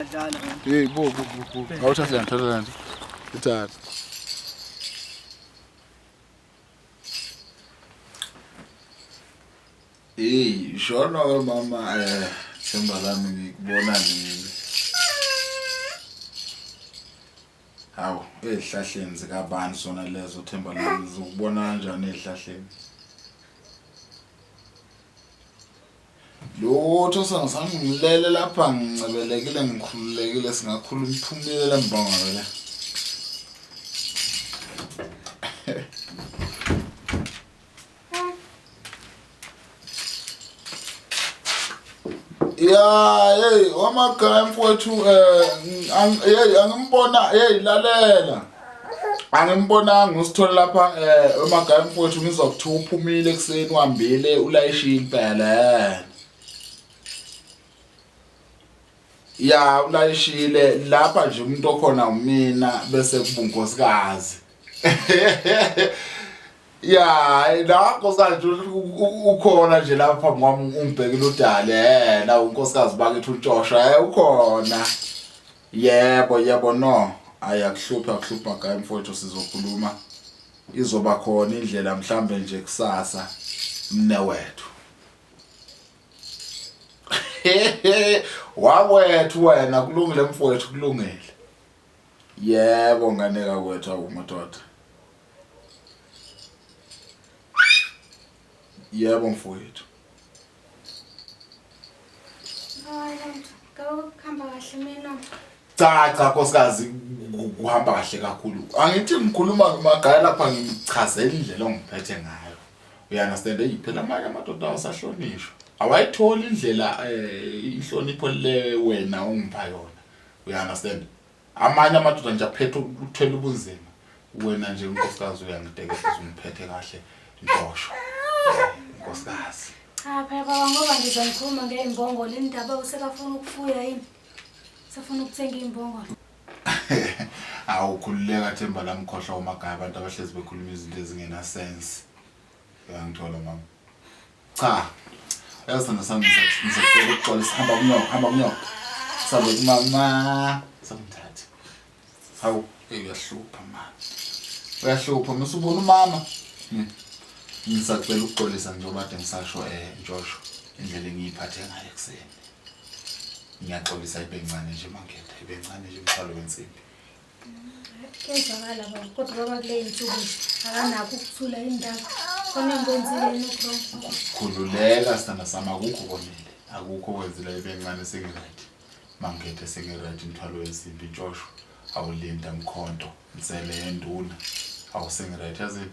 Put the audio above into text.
Hey bo bo bo. Awuthathe lento lento. Ithathe. Hey, shona we mama eh themba lami ngikubona nini. Hawu, ezihlahleni zikabani sona lezo themba lami zokubona kanjani ezihlahleni? Lutho sangisami ngilele lapha ngincebelekile ngikhululekile singakhula umphumile lembongo vele. Yeah, hey, wamakhaya mfowethu eh hey angimbona hey lalela. angimbonanga usithole lapha um emagaya mfowethu ngizwa kuthiwa uphumile ekuseni uhambile ulayishiye impela um ya ulayishile lapha nje umuntu okhona umina bese kubunkosikazi ya la nkosikazi ukhona nje lapha ngwami ungibhekile udale um la unkosikazi bakithi untshosha um ukhona Yebo yebo no ayakuhluphi akuhluphi magayi mfowethu sizokhuluma izoba khona indlela mhlambe nje kusasa mne wethu wakwethu wena kulungile mfowethu kulungile yebo nganeka kwethu awumadoda Yebo mfowethu. Cha cha nkosikazi kuhamba kahle kakhulu. Angithi ngikhuluma ngomagaya lapha ngichazela indlela ongiphethe ngayo. Uya understand hey phela manje amadoda awasahlonishwa. Awayithola indlela eh inhlonipho le wena ongipha yona. Uya understand? amanye amadoda nje aphethe ukuthela ubunzima wena nje unkosikazi uyangiteketisa ungiphethe kahle ntosho nkosikazi cha phela baba ngoba ngiza ngikhuluma ngey'mbongolo indaba usebafuna ukufuya yini sefuna ukuthenga iy'mbongolo awukhululeka themba lamkhohlwa umagaya abantu abahlezi bekhuluma izinto ezingenasense uyangithola mama Cha. Yazi thanda sami ngisacela ukuxolisa hamba kunyoko hamba kunyoko. Sabe kumama. Samthatha. Hawu uyahlupha mama. Uyahlupha mase ubona umama. Hmm. Ngisacela ukuxolisa njengoba kade ngisasho eh Joshua indlela engiyiphathe ngayo kuseni. Ngiyaxolisa ibencane nje mangithe ibencane nje mthwalo wensimbi. Kuyezwakala baba kodwa baba kule yinsuku akanakho ukuthula indaba khona ngikwenzile yini uwrong khululeka sithanda sami akukho konile akukho kwenzile ibencane sengiright mangithe sengiright imthwalo wensimbi intshosho awulinda mkhonto nsele yenduna awusengiright yazini